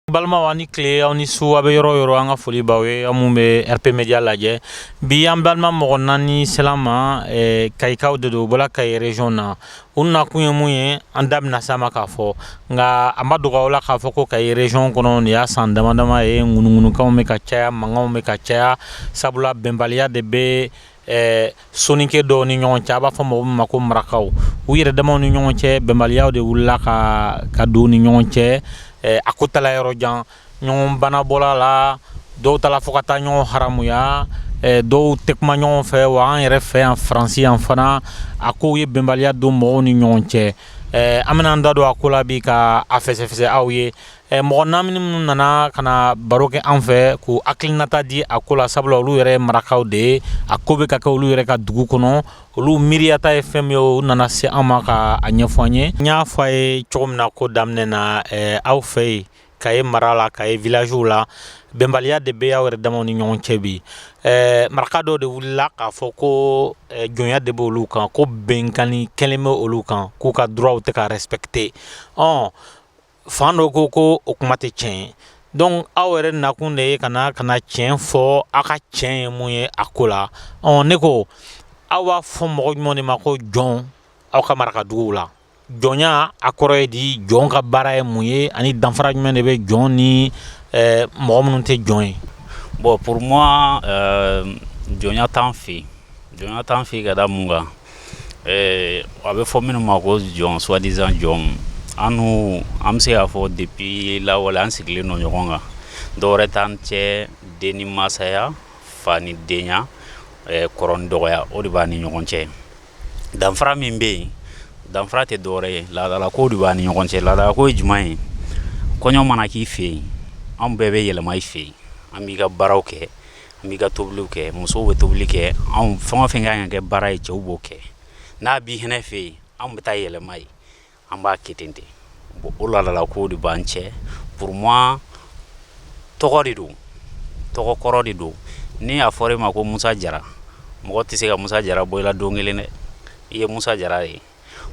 balimaw aw ni tile aw ni su aw bɛ yɔrɔ o yɔrɔ an ka foli b'aw ye aw minnu bɛ rp media lajɛ bi an balima mɔgɔ naani sela an ma kayikaw de don u bɔla kayi region na U nakun ye mun ye an da bɛna s'a ma k'a fɔ nka a ma dogo aw la k'a fɔ ko kayi region kɔnɔ nin y'a san dama dama ye ŋunuŋunukanw bɛ ka caya mankanw bɛ ka caya sabula bɛnbaliya de bɛ soninke dɔw ni ɲɔgɔn cɛ a b'a fɔ mɔgɔ min ma ko marakaw u yɛrɛ damaw ni ɲɔgɔn cɛ bɛnbaliya de wulila ka don u ni ɲɔgɔn cɛ a ko taala yɔrɔ jan ɲɔgɔn bana bɔla a la dɔw taala fo ka taa ɲɔgɔn haramuya eh, dɔw tɛ kuma ɲɔgɔn fɛ wa an yɛrɛ fɛ yan faransi yan fana a kow ye bɛnbaliya don mɔgɔw ni ɲɔgɔn cɛ eh, an bɛna an da don a ko la bi ka a fɛsɛfɛsɛ aw ye eh, mɔgɔ naani minnu nana ka na baro kɛ an fɛ k'u hakilinata di a ko la sabula olu yɛrɛ ye marakaw de ye a ko bɛ ka kɛ olu yɛrɛ ka dugu kɔnɔ olu miiriyata ye fɛn min ye u nana se an ma ka a ɲɛfɔ an ye n y'a fɔ aw ye cogo min na ko daminɛ na eh, aw fɛ yen kayi mara la kayi villagew la bɛnbaliya de bɛ aw yɛrɛ damaw ni ɲɔgɔn cɛ bi ɛɛ maraka dɔw de wulila k'a fɔ ko jɔnya de bɛ olu kan ko binkanni kɛlen bɛ olu kan k'u ka droitw tɛ ka respecter ɔ fan dɔ ko ko o kuma tɛ tiɲɛ donc aw yɛrɛ nakun de ye ka ka na tiɲɛ fɔ aw ka tiɲɛ ye mun ye a ko la ɔ ne ko aw b'a fɔ mɔgɔ jumɛn de ma ko jɔn aw ka maraka duguw la jɔnya a kɔrɔ ye di jɔn ka baara ye mun ye ani danfara jumɛn de bɛ jɔn ni eh, mɔgɔ minnu tɛ jɔn ye bon pour moi euh, jɔnya t'an fɛ yen jɔnya t'an fɛ yen ka da mun kan eh, a bɛ fɔ minnu ma ko jɔn soi-disant jɔn an n'u an bɛ se k'a fɔ depuis lawale an sigilen don ɲɔgɔn kan dɔwɛrɛ t'an cɛ den ni masaya fa ni denya eh, kɔrɔ ni dɔgɔya o de b'an ni ɲɔgɔn cɛ danfara min bɛ yen danfara tɛ dɔwɛrɛ ye laadala ko de b'an ni ɲɔgɔn cɛ laadala ko ye jumɛn ye kɔɲɔ mana k'i fɛ yen anw bɛɛ bɛ yɛlɛma i fɛ yen an b'i ka baaraw kɛ an b'i ka tobiliw kɛ musow bɛ tobili kɛ a fɛn o fɛn ka kan ka kɛ baara ye cɛw b'o kɛ n'a b'i fana fɛ yen anw bɛ taa yɛlɛma yen An b'a kɛ ten bon o laadala kow de b'an cɛ pour moi tɔgɔ de don tɔgɔ kɔrɔ de don ni a fɔra e ma ko musa jara mɔgɔ tɛ se ka musa jara bɔ i la don kelen dɛ i ye musa jara ye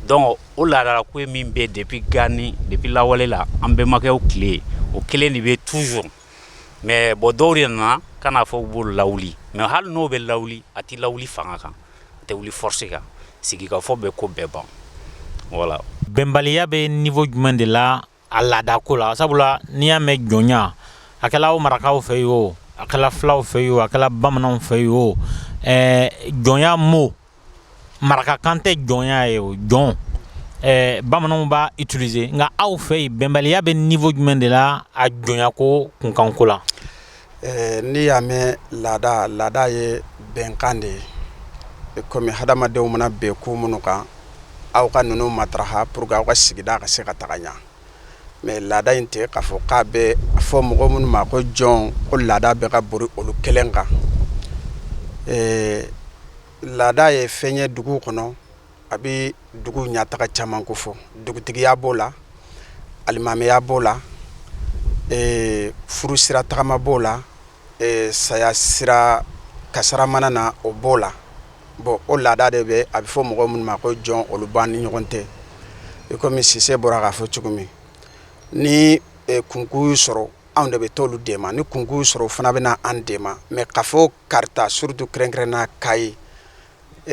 donc o laadala ko ye min bɛ depuis gani depuis lawale la an bɛnbakɛw tile o kelen de bɛ toujours mais bon dɔw de nana ka n'a fɔ u b'o lawuli mais hali n'o bɛ lawuli a tɛ lawuli fanga kan tɛ wuli force kan sigikafɔ bɛ ko bɛɛ ban voilà bɛnbaliya bɛ niveau jumɛn de la a laada ko la sabula n'i y'a mɛn jɔnya a kɛla aw marakaw fɛ yen o a kɛla filaw fɛ yen o a kɛla bamananw fɛ yen o ɛɛ jɔnya mot marakakan tɛ jɔnya ye o jɔn ɛɛ bamananw b'a utiliser nka aw fɛ yen bɛnbaliya bɛ niveau jumɛn de la a jɔnyako kunkanko la Ɛɛ n'i y'a mɛn laada laada ye bɛnkan de ye i kɔmi hadamadenw mana bɛn ko minnu kan aw ka ninnu matarafa pour que aw ka sigida ka se ka taga ɲɛ mais laada in tɛ k'a fɔ k'a bɛ fɔ mɔgɔ minnu ma ko jɔn ko laada bɛ ka boli olu kelen kan ɛɛ laada ye fɛn ye dugu kɔnɔ a bɛ dugu ɲɛtaa caman kofɔ dugutigiya b'o la alimamiya b'o la furu sira tagama b'o la saya sira kasara mana na o b'o la bon o laada de bɛ a bɛ fɔ mɔgɔ minnu ma ko jɔn olu b'an ni ɲɔgɔn tɛ i kɔmi Sise bɔra k'a fɔ cogo min ni kunko y'u sɔrɔ anw de bɛ t'olu dɛmɛ ni kunko y'u sɔrɔ fana bɛ na an dɛmɛ mais k'a fɔ Kaarta surtout kɛrɛnkɛrɛnnenya Kayi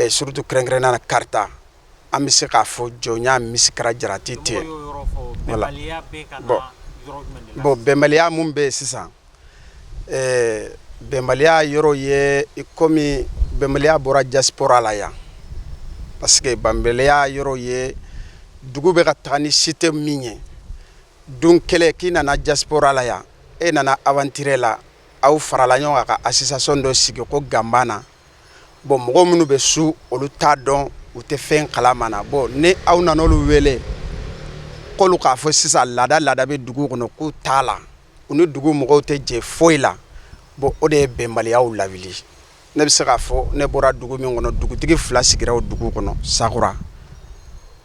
surtout kɛrɛnkɛrɛnnenya Kaarta an bɛ se k'a fɔ jɔnya misikala jarati tɛ bon bɛnbaliya mun bɛ yen sisan bɛnbaliya yɔrɔ ye kɔmi bɛnbaliya bɔra diaspora la yan parce que bɛnbaliya yɔrɔ ye dugu bɛ ka taa ni système min ye don kelen k'i nana diaspora la yan e nana aventure la aw farala ɲɔgɔn kan ka association dɔ sigi ko Ganbana bon mɔgɔ minnu bɛ so olu t'a dɔn u tɛ fɛn kalama na bon ni aw nana olu wele k'olu k'a fɔ sisan laada laada bɛ dugu kɔnɔ k'u t'a la u ni dugu mɔgɔw tɛ jɛ foyi la bon o de ye bɛnbaliyaw lawuli ne bɛ se k'a fɔ ne bɔra dugu min kɔnɔ dugutigi fila sigira o dugu kɔnɔ sakura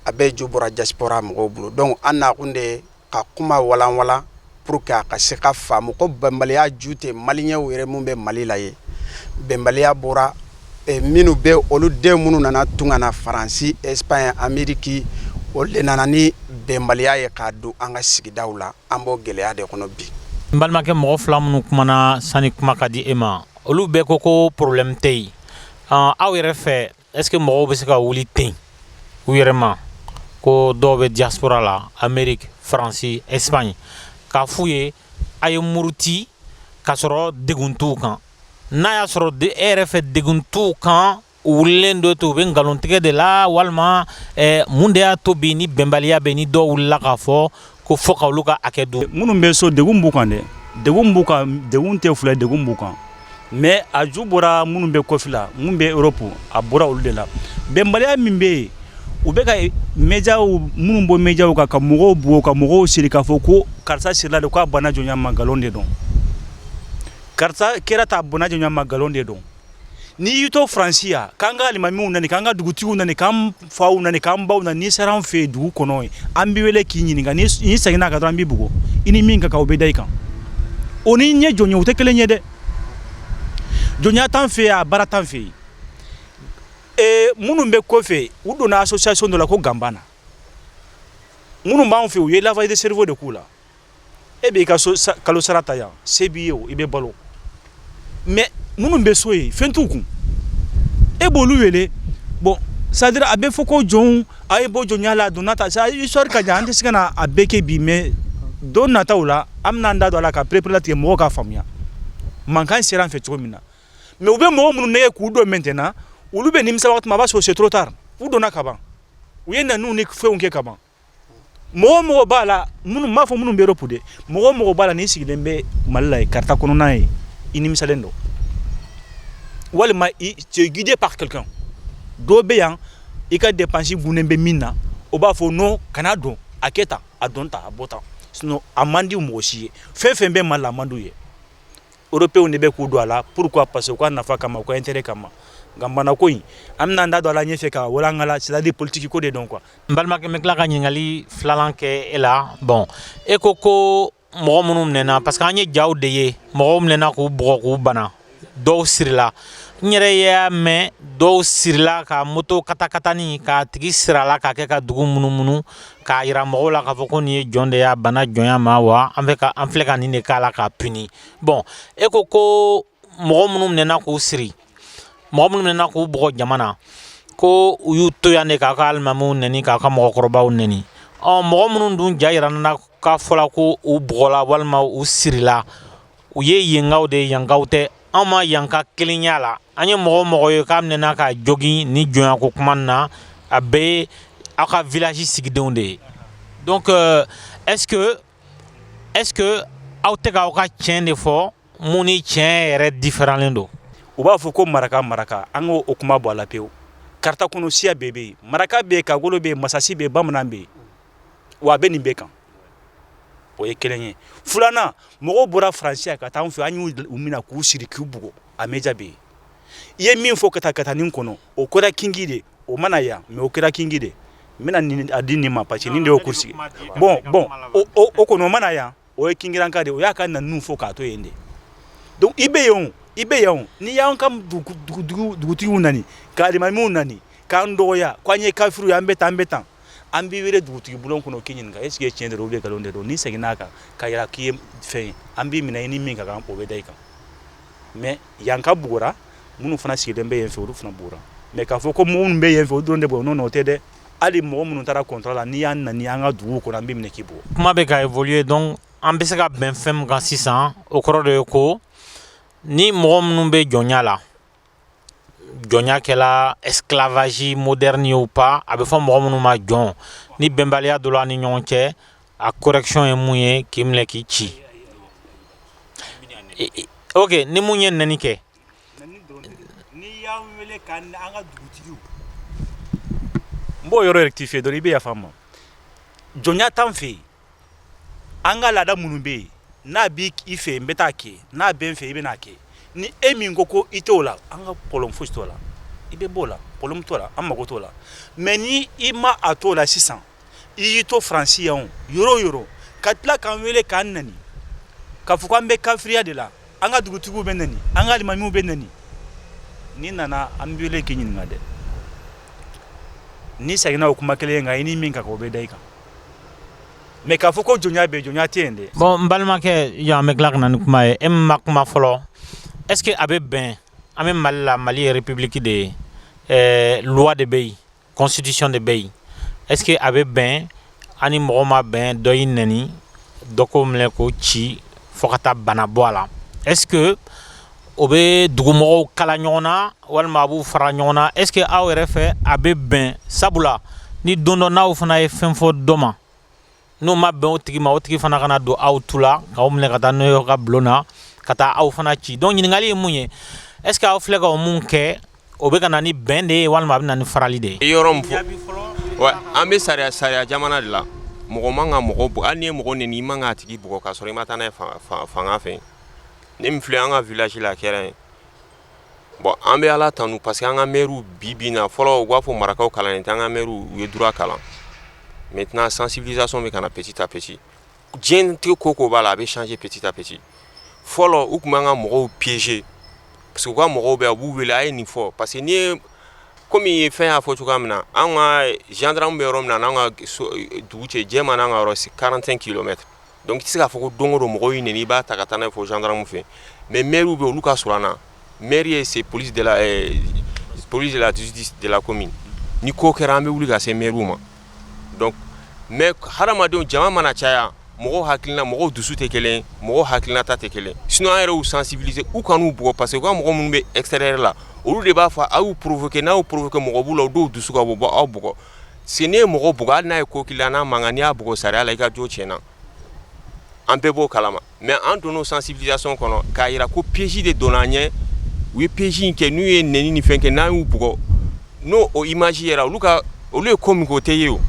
a bɛɛ ju bɔra diaspora mɔgɔw bolo donc an nakun de ka kuma walanwalan pour que a ka se ka faamu ko bɛnbaliya ju tɛ maliyɛnw yɛrɛ minnu bɛ Mali la ye bɛnbaliya bɔra eh, minnu bɛ olu denw minnu nana tunga na Faransi Espagne Ameriki olu de nana ni bɛnbaliya ye k'a don an ka sigidaw la an b'o gɛlɛya de kɔnɔ bi. N balimakɛ mɔgɔ fila minnu kumana sani kuma ka di e ma olu bɛɛ ko ko problème tɛ yen aw yɛrɛ fɛ Est-ce que mɔgɔw bɛ se ka wuli ten u yɛrɛ ma ko dɔw bɛ diaspora la Amérique, France, Espagne k'a f'u ye a ye muruti k'a sɔrɔ degun t'u kan n'a y'a sɔrɔ e yɛrɛ fɛ degun t'u kan u wulilen don ten u bɛ nkalontigɛ de la walima mun de y'a to bi ni bɛnbaliya bɛ ni dɔw wulila k'a fɔ ko fo ka olu ka hakɛ dun minnu bɛ so degun b'u kan dɛ degun b'u kan degun tɛ fila degun b'u kan mais a ju bɔra minnu bɛ kɔfɛla minnu bɛ Europe a bɔra olu de la bɛnbaliya min bɛ yen u bɛ ka médias minnu bɔ médias kan ka mɔgɔw bugɔ ka mɔgɔw siri k'a fɔ ko karisa sirila de k'a bana jɔnya ma nkalon de don karisa kɛra tan a bana jɔnya ma nkalon de don N'i y'i to Faransi yan k'an ka alimamiw neni k'an ka dugutigiw neni k'an faw neni k'an baw neni n'i sera an fɛ yen dugu kɔnɔ yen an b'i wele k'i ɲininka n'i n'i seginna a kan dɔrɔn an b'i bugɔ i ni min ka kan o bɛ da i kan o ni ɲɛ jɔnya o tɛ kelen ye dɛ jɔnya t'an fɛ yan baara t'an fɛ yen ee minnu bɛ kɔfɛ u donna association dɔ la ko Ganbana minnu b'an fɛ yen u ye lavage de cerveau de k'u la e b'i ka kalo sara ta yan se b'i ye i bɛ balo mais minnu bɛ so yen fɛn t'u kun e b'olu wele bon c'est à dire a bɛ fɔ ko jɔnw a ye bɔ jɔnya la donna ta c'est histoire ka jan an tɛ se ka na a bɛɛ kɛ bi mais don nataw la an bɛna an da don a la ka pereperelatigɛ mɔgɔw k'a faamuya mankan sera an fɛ cogo min na mais u bɛ mɔgɔ minnu nɛgɛn k'u don maintenant olu bɛ nimisa waati min a b'a sɔrɔ c'est trop tard u donna kaban u ye neniw ni fɛnw kɛ kaban mɔgɔ mɔgɔ b'a la minnu m'a fɔ minnu bɛ Europe de mɔgɔ mɔgɔ b'a la n'i sigilen bɛ Mali la yen karti kɔnɔna yen i nimisalen don walima i tu es guidé par quelqu'un dɔ bɛ yan i ka dépense dulonnen bɛ min na o b'a fɔ non kana don a kɛ tan a don tan a bɔ tan sinon a man di mɔgɔ si ye fɛn fɛn bɛ Mali la a man d'u ye européenw de bɛ k'u don a la pourquoi parce que u ka nafa kama u ka intérêt kama nka bana ko in an bɛna an da don a la ɲɛfɛ k'a walankala c'est à dire politique ko de don quoi N balimakɛ n bɛ tila ka ɲininkali filanan kɛ e la bon e ko ko mɔgɔ minnu minɛna parce que an ye jaw de ye mɔgɔw minɛna k'u bugɔ k'u bana dɔw sirila n yɛrɛ y'a mɛn dɔw sirila ka moto katakatanin k'a tigi siri a la k'a kɛ ka dugu munumunu k'a yira mɔgɔw la k'a fɔ ko nin ye jɔn de y'a bana jɔnya ma wa an filɛ ka nin de k'a la k'a puni bon e ko ko mɔgɔ minnu minɛna k'u siri mɔgɔ minnu minɛna k'u bugɔ jama na ko u y'u to yan de k'aw ka alimamiw neni k'aw ka mɔgɔkɔrɔbaw neni ɔ mɔgɔ minnu dun ja yira na k'a fɔla ko u bugɔla walima u sirila u ye yenkaw de ye yankaw tɛ anw ma yanka kelen y'a la an ye mɔgɔ o mɔgɔ ye k'a minɛna k'a jogin ni jɔnyako kuma na a bɛɛ ye aw ka village sigidenw de ye donc est ce que est ce que aw tɛ k'aw ka tiɲɛ de fɔ mun ni tiɲɛ yɛrɛ différentlen don u b'a fɔ ko maraka maraka an k' o kuma bɔ a la pewu karata kɔnɔ siya bɛɛ bɛ yen maraka bɛ kagolo bɛ masasi bɛ bamanan bɛ yen wa a bɛ nin bɛɛ kan o ye kelen ye filanan mɔgɔw bɔra faransi ka taa an fɛ an y'u minɛ k'u siri k'u bugɔ a média bɛ yen i ye min fɔ ka taa ka taa nin kɔnɔ o kɛra kingi de o mana yan mais o kɛra kingi de n bɛna a di nin ma parce que nin de y' sigi bɔn bɔn o kɔnɔ o mana yan o ye kingiranka de o y'a ka naniw fɔ k'a to yen de donc i bɛ yen i bɛ yan n'i y'an ka dugutigiw nani ka alimamiw nani k'an dɔgɔya k'an ye kafiriw ye an bɛ tan an bɛ tan an b'i wele dugutigi bulon kɔnɔ k'i ɲininka est ce que tiɲɛ de don ou bien nkalon de don n'i seginna a kan k'a yira k'i ye fɛn ye an b'i minɛ i ni min ka kan o bɛ da i kan mais yanka bugɔra minnu fana sigilen bɛ yen fɛ olu fana bugɔra mais k'a fɔ ko minnu bɛ yen fɛ o dɔrɔn de bugɔra non non o tɛ dɛ hali mɔgɔ minnu taara kɔntara la n'i y'an nani an ka dugu kɔnɔ an b'i minɛ k'i bugɔ kuma bɛ ka évoluer donc an bɛ se ka bɛn fɛn min kan sisan o kɔrɔ dɔ ye ko ni mɔgɔ minnu bɛ jɔnya la jɔnya kɛla esclavage moderne ye ou pas a bɛ fɔ mɔgɔ minnu ma jɔn ni bɛnbaliya donna u ni ɲɔgɔn cɛ a correction ye mun ye k'i minɛ k'i ci oke ni mun ye neni kɛ N b'o yɔrɔ rectifier dɔrɔn i bɛ yafa n ma jɔnya t'an fɛ yen an ka laada minnu bɛ yen n'a b' i fɛ n bɛ taa kɛ n'a bɛ n fɛ i bɛna a kɛ ni e min ko ko i t' o la an ka problème fosi t' o la i bɛ bɔ o la problème t' o la an mako t' o la mais n' i ma a t' o la sisan i y'i to faransi yan yɔrɔ o yɔrɔ ka tila k'an wele k'an nani k'a fɔ k'an bɛ kafiriya de la an ka dugutigiw bɛ nani an ka alimamiw bɛ nani n'i nana an b'i wele k'i ɲininka dɛ n'i seginna o kuma kelen kan i ni min ka kan o bɛ da i kan mais k'a fɔ ko jɔnya bɛ jɔnya tɛ yen dɛ bon n balimakɛ yan an bɛ tila ka na ni kuma ye e min ma kuma fɔlɔ est ce que a bɛ bɛn an bɛ mali la mali ye république de ye ɛɛ loi de bɛ yen constitution de bɛ yen est ce que a bɛ bɛn an ni mɔgɔ ma bɛn dɔ y'i nɛni dɔ k'o minɛ k'o ci fo ka taa bana bɔ a la est ce que o bɛ dugumɔgɔw kala ɲɔgɔn na walima a b'u fara ɲɔgɔn na est ce que aw yɛrɛ fɛ a bɛ bɛn sabula ni don dɔ n'aw fana ye fɛn fɔ dɔ ma n'o ma bɛn o tigi ma o tigi fana kana don aw tu la k'aw minɛ ka taa n'o ye ka bulon na ka taa aw fana ci donc ɲininkali ye mun ye est ce que aw filɛ ka ko mun kɛ o bɛ ka na ni bɛn de ye walima a bɛ na ni farali de ye yɔrɔ min fɔ an bɛ sariya jamana de la mɔgɔ man ka mɔgɔ bugɔ hali n'i ye mɔgɔ neni i man k'a tigi bugɔ k'a sɔrɔ i ma taa n'a ye fanga fɛ ne min filɛ an ka village la a kɛra yen bon an bɛ ala tanu parce que an ka maires bi bi in na fɔlɔ u b'a fɔ marakaw kalannen tɛ an ka maires u ye droit kalan maintenant sensibilisation bɛ ka na petit à petit diɲɛnatigɛ ko ko b'a la a bɛ changer petit à petit fɔlɔ u tun b'an ka mɔgɔw piéger parce que u ka mɔgɔw bɛ yen u b'u wele a ye nin fɔ parce que n ye kɔmi ye fɛn y'a fɔ cogoya min na an ka gendarme bɛ yɔrɔ min na n'an ka dugu cɛ jɛ ma an ka yɔrɔ c'est quarante cinq kilomètres Donc i tɛ se k'a fɔ ko don o don mɔgɔ y'i nɛni i b'a ta ka taa n'a ye fo gendarme fɛ mais mairew bɛ olu ka surun an na maire ye c'est police de la justice de la commune ni ko kɛra an bɛ wuli ka se mairew ma mais hadamadenw jama mana caya mɔgɔ hakilina mɔgɔ dusu tɛ kelen mɔgɔ hakilinata tɛ kelen sinon an yɛrɛ y'u sensibiliser u kan'u bugɔ parce que u ka mɔgɔ minnu bɛ extérieur la olu de b'a fɔ aw y'u provoquer n'aw provoquer mɔgɔ b'u la u dɔw dusu ka bɔ bɔ aw bugɔ Si n'i ye mɔgɔ bugɔ hali n'a ye ko k'i la n'a man kan n'i y'a bugɔ sariya la i ka jo tiɲɛna an bɛɛ b'o kala ma mais an donna o sensibilisation kɔnɔ k'a jira ko piège de donna an ɲɛ u ye piège in kɛ n'u ye nɛni ni fɛn kɛ n'an y'u bugɔ n'o o image yɛrɛ olu ka olu ye ko min kɛ o tɛ ye o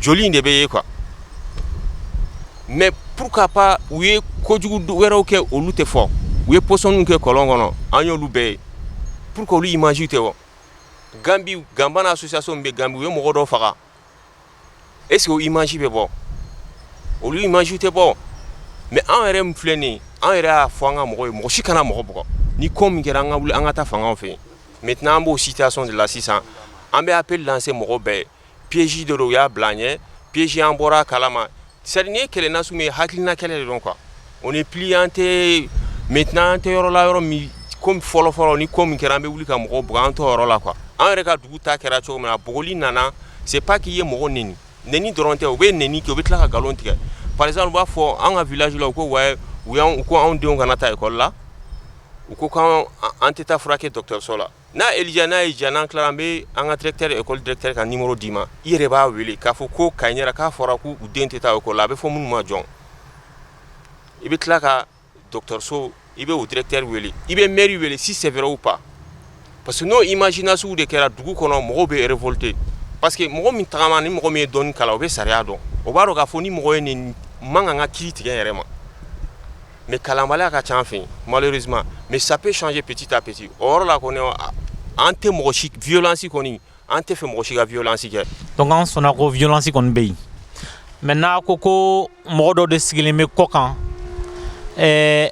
joli in de bɛ ye quoi mais pourquoi pas u ye kojugu wɛrɛw kɛ olu tɛ fɔ u ye pɔsɔniw kɛ kɔlɔn kɔnɔ an y'olu bɛɛ ye pourquoi olu image tɛ bɔ ganbi ganbana association min bɛ ganbi u ye mɔgɔ dɔ faga est ce que o image bɛ bɔ olu image tɛ bɔ mais anw yɛrɛ min filɛ nin ye an yɛrɛ y'a fɔ an ka mɔgɔw ye mɔgɔ si kana mɔgɔ bugɔ ni ko min kɛra an ka wuli an ka taa fangaw fɛ yen maintenant an b'o situation de la sisan an bɛ appel lancer mɔgɔ bɛɛ ye Piège de don u y'a bila an ɲɛ piège an bɔra a kala ma c'est à dire nin ye kɛlɛ nasugu min ye hakilina kɛlɛ de don quoi on n'est plus an tɛ maintenant an tɛ yɔrɔ la yɔrɔ min comme fɔlɔfɔlɔ ni ko min kɛra an bɛ wuli ka mɔgɔ bugɔ an t'o yɔrɔ la quoi an yɛrɛ ka dugu ta kɛra cogo min na bugɔli nana c'est pas k'u ye mɔgɔ nɛni dɔrɔn tɛ u bɛ nɛni kɛ u bɛ tila ka nkalon tigɛ par exemple u b'a fɔ an ka village la u ko ouais u ko anw denw kana taa école la u ko an tɛ taa furakɛ dɔgɔtɔrɔso la N'a Elija n'a y'i diya n'an tilara an bɛ an ka directeur école directeur ka numéro d'i ma i yɛrɛ b'a wele k'a fɔ ko Kayinɛra k'a fɔra k'u den tɛ taa école la a bɛ fɔ minnu ma jɔn i bɛ tila ka dɔgɔtɔrɔso i bɛ o directeur wele i bɛ maire wele si c'est vrai ou pas parce que n'o imagination de kɛra dugu kɔnɔ mɔgɔw bɛ révolter parce que mɔgɔ min taama ni mɔgɔ min ye dɔɔnin kalan o bɛ sariya dɔn o b'a dɔn k'a fɔ ni mɔgɔ y'i nɛni i man kan ka kiri tigɛ yɛrɛ ma mɛ kalanbaliya ka ca fɛ mali suma mɛ sape sɔnji pti ta pti o la ko an tɛ mɔgɔ viysi kɔni an tɛ fɛ mɔgɔ si ka viysi kɛ dɔn an sɔnna ko viysi kɔni bɛ yen mɛ n'a ko ko mɔgɔ dɔ de sigilen bɛ kɔ kan ɛɛ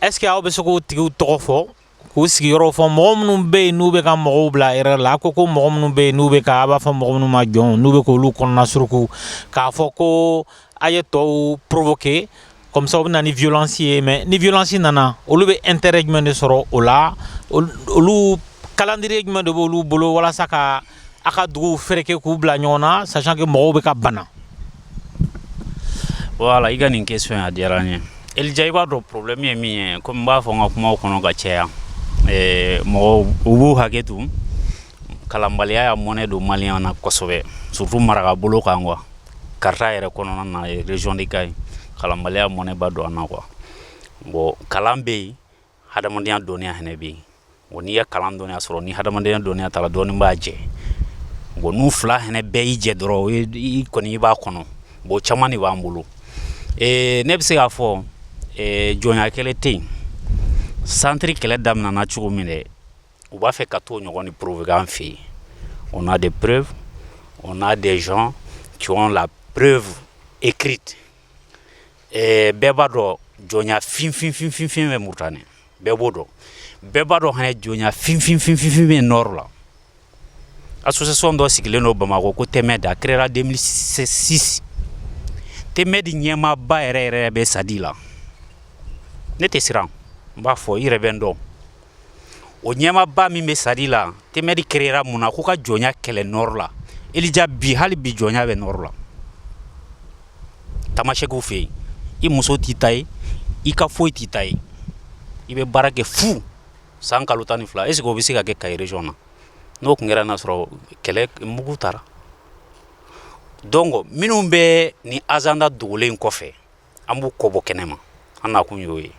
ɛsseke aw bɛ se k' tigi tɔgɔ fɔ k'u sigiyɔrɔ fɔ mɔgɔ minnu bɛ yen n'u bɛ ka mɔgɔw bila erreur la a ko ko mɔgɔ minnu bɛ yen n'u bɛ ka a b'a fɔ mɔgɔ minnu ma jɔn n'u bɛ k'olu kɔnɔna suruku k'a fɔ ko a ye tɔw provoquer comme ça o bɛ na ni violence ye mais ni violence nana olu bɛ intérêt jumɛn de sɔrɔ o la olu calendrier jumɛn de b' olu bolo walasa ka A ka dugu fɛrɛkɛ k'u bila ɲɔgɔn na sachant que mɔgɔw bɛ ka bana voilà i ka nin question a diyara n ye Elija i b'a dɔn problème ye min ye comme n b'a fɔ n ka kumaw kɔnɔ ka caya ɛɛ mɔgɔw u b'u hakɛ to kalanbaliya y'a mɔnɛ don maliyɛn na kosɛbɛ surtout maraka bolo kan quoi Kaarta yɛrɛ kɔnɔna na région de Kayi kalanbaliya mɔnɛba don an na quoi bon kalan bɛ yen hadamadenya dɔnya hɛnɛ bɛ yen bon n'i ye kalan dɔnya sɔrɔ ni hadamadenya dɔnya t'a la dɔɔni b'a jɛ bon n'u fila hɛnɛ bɛɛ y'i jɛ dɔrɔn i kɔni i b'a kɔnɔ bon caman de b'an bolo ne bɛ se k'a fɔ jɔnya kɛlɛ tɛ yen centre kɛlɛ daminɛna cogo min dɛ u b'a fɛ ka t'o ɲɔgɔn de provoquer an fɛ yen on a des preuves on a des gens qui ont la preuve écrite Ɛɛ bɛɛ b'a dɔn jɔnya finfinfinfin bɛ Mauritanie bɛɛ b'o dɔn bɛɛ b'a dɔn hana jɔnya finfin bɛ nord la association dɔ sigilen don bamakɔ ko Temedt a créera deux mille six Temedt ɲɛmaaba yɛrɛ yɛrɛ bɛ SADI la ne tɛ siran n b'a fɔ i yɛrɛ bɛ n dɔn o ɲɛmaaba min bɛ SADI la Temedt créera mun na k'u ka jɔnya kɛlɛ nord la elija bi hali bi jɔnya bɛ nord la tamasɛkiw fɛ yen i muso t'i ta ye i ka foyi t'i ta ye i bɛ baara kɛ fu san kalo tan ni fila est-ce o bɛ se ka kɛ Kayi région na n'o tun kɛra n'a sɔrɔ kɛlɛ mugu taara donc minnu bɛ nin agenda dogolen kɔfɛ an b'u kɔbɔ kɛnɛ ma an na kun y'o ye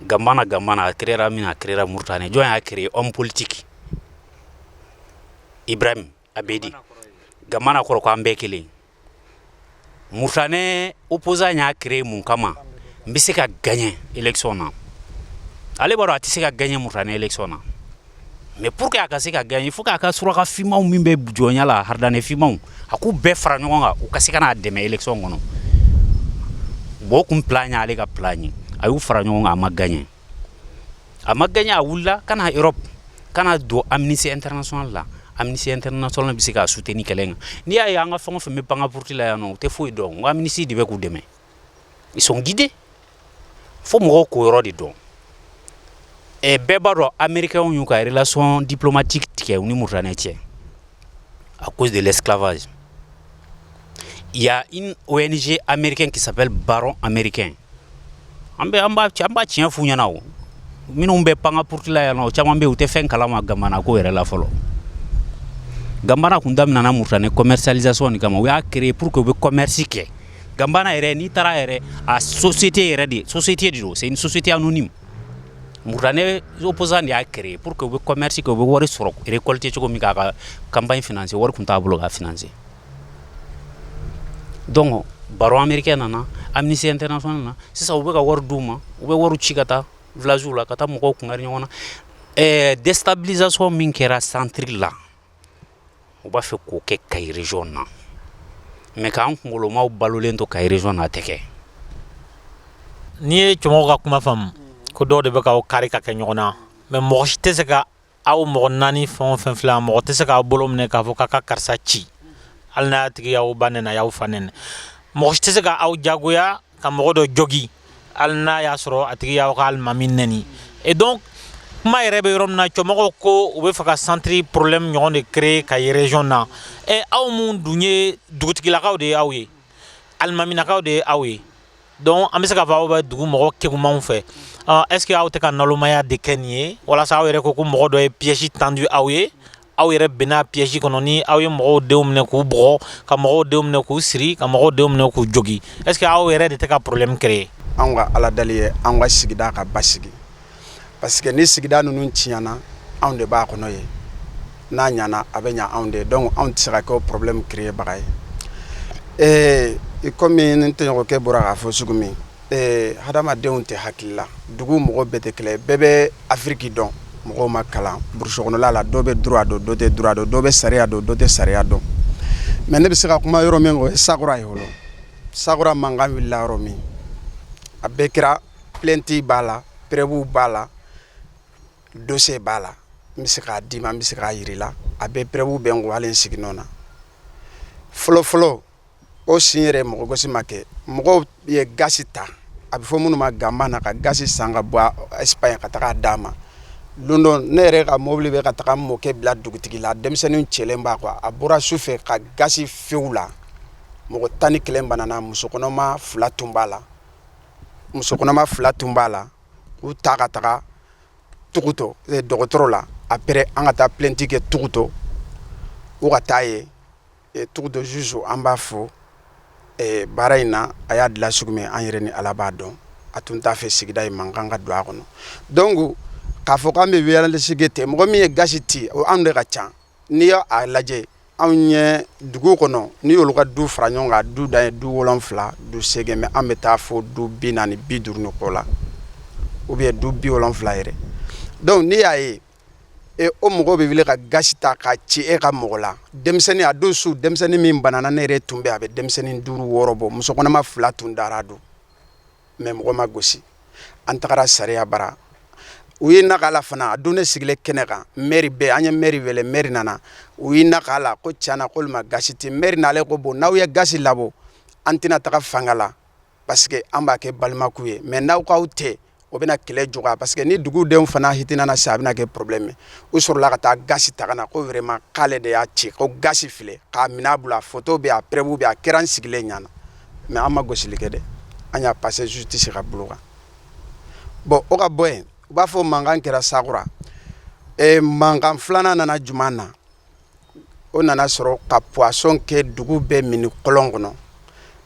ga ga a kira min a kira mu tan ni jɔn y'a kɛ anw politigi i bɛ a bɛ di ga kɔrɔ ko an bɛɛ kelen munen u psan y'a kɛ mun kama n bɛ se ka ganɲɛ esɔn na ale b'a dɔn a tɛ se ka ganɲɛ munen esɔn na mais pour que a ka se ka gagner il faut k'a ka suraka fimaw min bɛ jɔnya la haridane fimaw a k'u bɛɛ fara ɲɔgɔn kan u ka se ka n'a dɛmɛ élection kɔnɔ bon o kun plan y'ale ka plan ye a y'u fara ɲɔgɔn kan a ma gagné a ma gagné a wulila ka na Europe ka na don Amnesty International la Amnesty International bɛ se k'a soutenir kɛlɛ in kan n'i y'a ye an ka fɛn o fɛn bɛ pan ka puruti la yan nɔ u tɛ foyi dɔn n ko Amnesty de bɛ k'u dɛmɛ ils sont guidés fo mɔgɔw k'o yɔrɔ de dɔn ɛ bɛɛ b'a dɔn américains y'u ka relation diplomatique tigɛ u ni mauritanie cɛ à cause de l'esclavage il y a une ONG américaine qui s'appelle Barreau américain an bɛ an b'a an b'a tiɲɛ f'u ɲɛna o minnu bɛ panga porte la yan nɔ caman bɛ yen u tɛ fɛn kalama Gambana ko yɛrɛ la fɔlɔ Gambana kun daminɛna mauritanie commercialisation de kama u y'a créer pour que u bɛ commerce kɛ Gambana yɛrɛ n'i taara yɛrɛ a société yɛrɛ de société de don c'est une société anonyme Mauritanie opposant de y'a créer pour que u bɛ commerce kɛ u bɛ wari sɔrɔ récolter cogo min k'a ka campagne financer wari tun t'a bolo k'a financer donc Barreau américain nana Amnesty International nana sisan u bɛ ka wari d'u ma u bɛ wari ci ka taa village la ka taa mɔgɔw kungari ɲɔgɔn na ɛɛ déstabilisation min kɛra centre la u b'a fɛ k'o kɛ Kayi région na mais k'an kunkolomaw balolen to Kayi région na a tɛ kɛ n'i ye cɛmɔgɔ ka kuma faamu ko dɔw de bɛ k'aw kari ka kɛ ɲɔgɔn na mais mɔgɔ si tɛ se ka aw mɔgɔ naani fɛn o fɛn filɛ mɔgɔ tɛ se k'aw bolo minɛ k'a fɔ k'a ka karisa ci hali n'a tigi y'aw ba nɛni a y'aw fa nɛni mɔgɔ si tɛ se k'aw jagoya ka mɔgɔ dɔ jogin hali n'a y'a sɔrɔ a tigi y'aw ka alimami nɛni et donc kuma yɛrɛ bɛ yɔrɔ min na cɛmɔgɔw ko u bɛ fɛ ka centre problème ɲɔgɔn de créer Kayi région na ɛ aw minnu dun ye dugutigilakaw de ye aw ye alimaminakaw de ye aw ye donc an bɛ se k'a fɔ aw bɛ dugu mɔgɔ kegumanw fɛ est ce que aw tɛ ka nalomaya de kɛ nin ye walasa aw yɛrɛ ko ko mɔgɔ dɔ ye piège tendu aw ye aw yɛrɛ binna piège kɔnɔ ni aw ye mɔgɔw denw minɛ k'u bugɔ ka mɔgɔw denw minɛ k'u siri ka mɔgɔw denw minɛ k'u jogin est ce que aw yɛrɛ de tɛ ka problème créer an ka ala deli ye an ka sigida ka basigi parce que ni sigida ninnu tiɲɛna anw de b'a kɔnɔ ye n'a ɲana a bɛ ɲɛ anw de donc anw tɛ se ka kɛ problème créerbaga ye ee i kɔmi n tɔɲɔgɔnkɛ bɔra k'a fɔ sugu min Ee hadamadenw tɛ hakili la dugu mɔgɔ bɛɛ tɛ kelen bɛɛ bɛ afiriki dɔn mɔgɔw ma kalan burusi kɔnɔla la dɔ bɛ droit dɔn dɔ tɛ droit dɔn dɔ bɛ sariya dɔn dɔ tɛ sariya dɔn mais ne bɛ se ka kuma yɔrɔ min o ye Sakura ye fɔlɔ Sakura mankan wilila yɔrɔ min a bɛɛ kɛra plainte b'a la preuve b'a la dossier b'a la n bɛ se k'a d'i ma n bɛ se k'a yir'i la a bɛɛ preuve bɛ n kun hali n sigi nɔ na fɔlɔ o sin yɛrɛ mɔgɔ gosi ma kɛ mɔgɔw ye gaz ta a bɛ fɔ minnu ma Gambana ka gaz san ka bɔ Espagne ka taga d'a ma don dɔ ne yɛrɛ ka mobili bɛ ka taga mɔkɛ bila dugutigi la denmisɛnnin cɛlen b'a quoi a bɔra su fɛ ka gaz fiyɛ u la mɔgɔ tan ni kelen banana muso kɔnɔma fila tun b'a la muso kɔnɔma fila tun b'a la k'u ta ka taga tugutɔ dɔgɔtɔrɔ la après an ka taa plainte kɛ tugutɔ u ka taa ye Tugu dɔ juge an b'a fɔ baara in na a y'a dilan cogo min an yɛrɛ ni ala b'a dɔn a tun t'a fɛ sigida in mankan ka don a kɔnɔ donc k'a fɔ k'an bɛ violence kɛ ten mɔgɔ min ye gasi tɛ o anw de ka ca n'i y'a lajɛ anw ɲɛ dugu kɔnɔ n'i y'olu ka du fara ɲɔgɔn kan du dan ye du wolonwula du segin mais an bɛ taa fɔ du bi naani bi duuru ni kɔ la ou bien du bi wolonwula yɛrɛ donc n'i y'a ye e o mɔgɔ bɛ wuli ka gasi ta k'a ci e ka mɔgɔ la denmisɛnnin a don su denmisɛnnin min banana ne yɛrɛ tun bɛ a bɛ denmisɛnnin duuru wɔɔrɔ bɔ musokɔnɔma fila tun dara don mais mɔgɔ ma gosi an tagara sariya bara u ye na k'a la fana a don ne sigilen kɛnɛ kan maire bɛɛ an ye maire wele maire nana u ye na k'a la ko cana k'olu ma gasi tɛ maire nalen ko bon n'aw ye gasi labɔ an tɛna taga fanga la parce que an b'a kɛ balimaku ye mais n'aw k'aw tɛ o bɛna kɛlɛ juguya parce que ni dugudenw fana hitinana sa a bɛna kɛ problème u sɔrɔla ka taa gasi ta ka na ko vraiment k'ale de y'a ci ko gasi filɛ k'a minɛ a bolo a photo bɛ a preuve bɛ a kɛra an sigilen ɲɛ na mais an ma gosili kɛ dɛ an y'a passé justice ka bolo kan bon o ka bɔ yen u b'a fɔ mankan kɛra sakura mankan filanan nana juma na o nana sɔrɔ ka poison kɛ dugu bɛɛ mini kɔlɔn kɔnɔ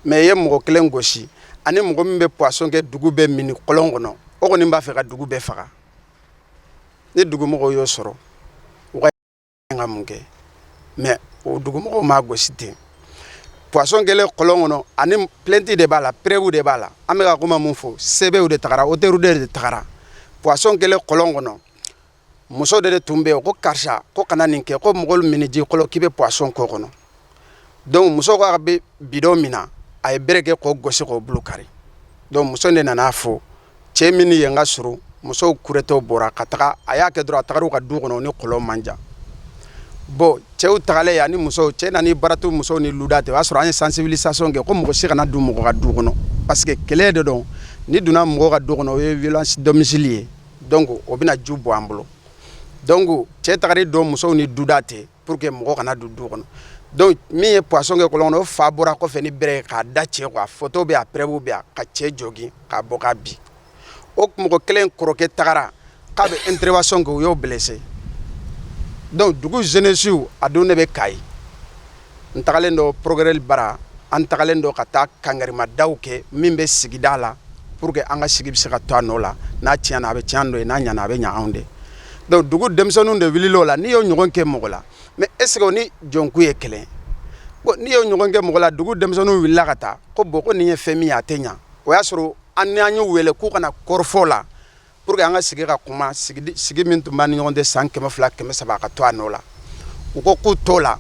mais i ye mɔgɔ kelen gosi ani mɔgɔ min bɛ poison kɛ dugu bɛɛ mini kɔlɔn kɔnɔ o kɔni b'a fɛ ka dugu bɛɛ faga ni dugumɔgɔw y'o sɔrɔ u ka mun kɛ mais o dugumɔgɔw m'a gosi ten poison kɛlen kɔlɔn kɔnɔ ani plainte de b'a la preuve de b'a la an bɛ ka kuma min fɔ sɛbɛnw de tagara auteur de tagara poison kɛlen kɔlɔn kɔnɔ muso de de tun bɛ yen ko karisa ko kana nin kɛ ko mɔgɔw mini ji kɔlɔn k'i bɛ poison k'o kɔnɔ donc muso k'a bɛ bidon mina a ye bere kɛ k'o gosi k'o bolo kari donc muso de nana fɔ cɛ min ye n ka s musow kuretɔ bɔra ka taga a y'a kɛ dɔrɔn a taara u ka du kɔnɔ ni kɔlɔn man jan bon cɛw tagalen yan ni muso cɛ nana baratu musow ni luda tɛ o y'a sɔrɔ an ye sensibilisation kɛ ko mɔgɔ si kana don mɔgɔ ka du kɔnɔ parce que kɛlɛ de don n'i donna mɔgɔ ka du kɔnɔ o ye violence domicile ye donc o bɛna ju bɔ an bolo donc cɛ tagari don musow ni duda tɛ pour que mɔgɔ kana don du kɔnɔ donc min ye poison kɛ kɔlɔn kɔnɔ o fa bɔra kɔfɛ ni bere k'a da cɛ quoi a photo bɛ a preuve bɛ a ka cɛ jogin k'a bɔ k'a bin o mɔgɔ kelen kɔrɔkɛ tagara k'a bɛ intervention kɛ u y'o blessé donc dugu jeunesse a don ne bɛ Kayi n tagalen don procureur bara an tagalen don ka taa kangarimada kɛ min bɛ sigida la pour que an ka sigi bɛ se ka to a nɔ la n'a tiɲɛna a bɛ tiɲɛ an dɔ ye n'a ɲana a bɛ ɲɛ anw de donc dugu denmisɛnninw de wulila o la n'i y'o ɲɔgɔn kɛ mɔgɔ la mais est-ce que o ni jɔnku ye kelen bon n'i y'o ɲɔgɔn kɛ mɔgɔ la dugu denmisɛnninw wulila ka taa ko bon ko nin ye fɛn min ye a tɛ ɲɛ o y'a sɔrɔ an y'u wele k'u kana kɔrɔfɔ la Pour que an ka sigi ka kuma sigi min tun b'an ni ɲɔgɔn tɛ san kɛmɛ fila kɛmɛ saba ka to a nɔ la u ko k'u t'o la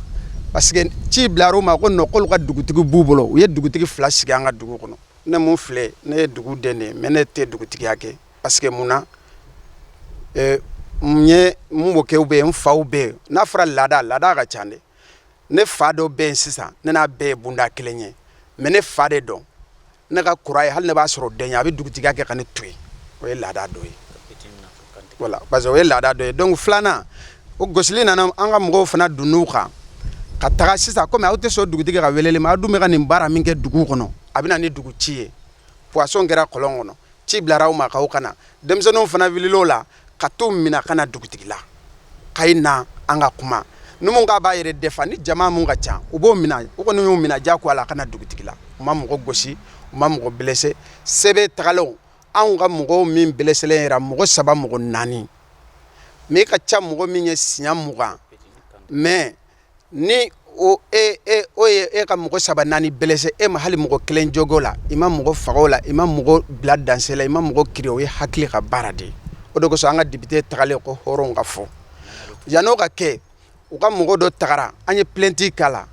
parce que ci bilara u ma ko non k'olu ka dugutigi b'u bolo u ye dugutigi fila sigi an ka dugu kɔnɔ ne min filɛ ne ye dugu den de mais ne tɛ dugutigiya kɛ parce que mun na ne mɔkɛw bɛ yen n faw bɛ yen n'a fɔra laada laada ka ca dɛ ne fa dɔ bɛ yen sisan ne n'a bɛɛ ye bunda kelen ye mais ne fa de don ne ka kɔr'a ye hali ne b'a sɔrɔ den a bɛ dugutigiya kɛ ka ne to yen o ye laada dɔ ye parce que o ye laada dɔ ye donc filanan o gosili nana an ka mɔgɔw fana donn'u kan ka taga sisan kɔmi aw tɛ sɔn dugutigi ka weleli ma aw dun bɛ ka nin baara min kɛ dugu kɔnɔ a bɛ na ni dugu ci ye poison kɛra kɔlɔn kɔnɔ ci bilara aw ma k'aw ka na denmisɛnninw fana wulila o la ka t'u minɛ ka na dugutigi la ka na an ka kuma ni min k'a b'a yɛrɛ défend ni jama min ka ca u b'o minɛ u kɔni y'u minɛ diyagoya la ka na dugutigi la u ma mɔgɔ gosi u ma mɔgɔ blessé sɛbɛn tagalen anw ka mɔgɔw min blessélen yɛrɛ mɔgɔ saba mɔgɔ naani mais i ka ca mɔgɔ min ye siɲɛ mugan mais ni o e, e, o ye e ka mɔgɔ saba naani blessé e ma hali mɔgɔ kelen jog'o la i ma mɔgɔ faga o la i ma mɔgɔ bila danger la i ma mɔgɔ kirin o ye hakili ka baara de ye o de kosɔn an ka député tagalen ko hɔrɔn ka fɔ yan'o ka kɛ u ka mɔgɔ dɔ tagara an ye plainte k'a la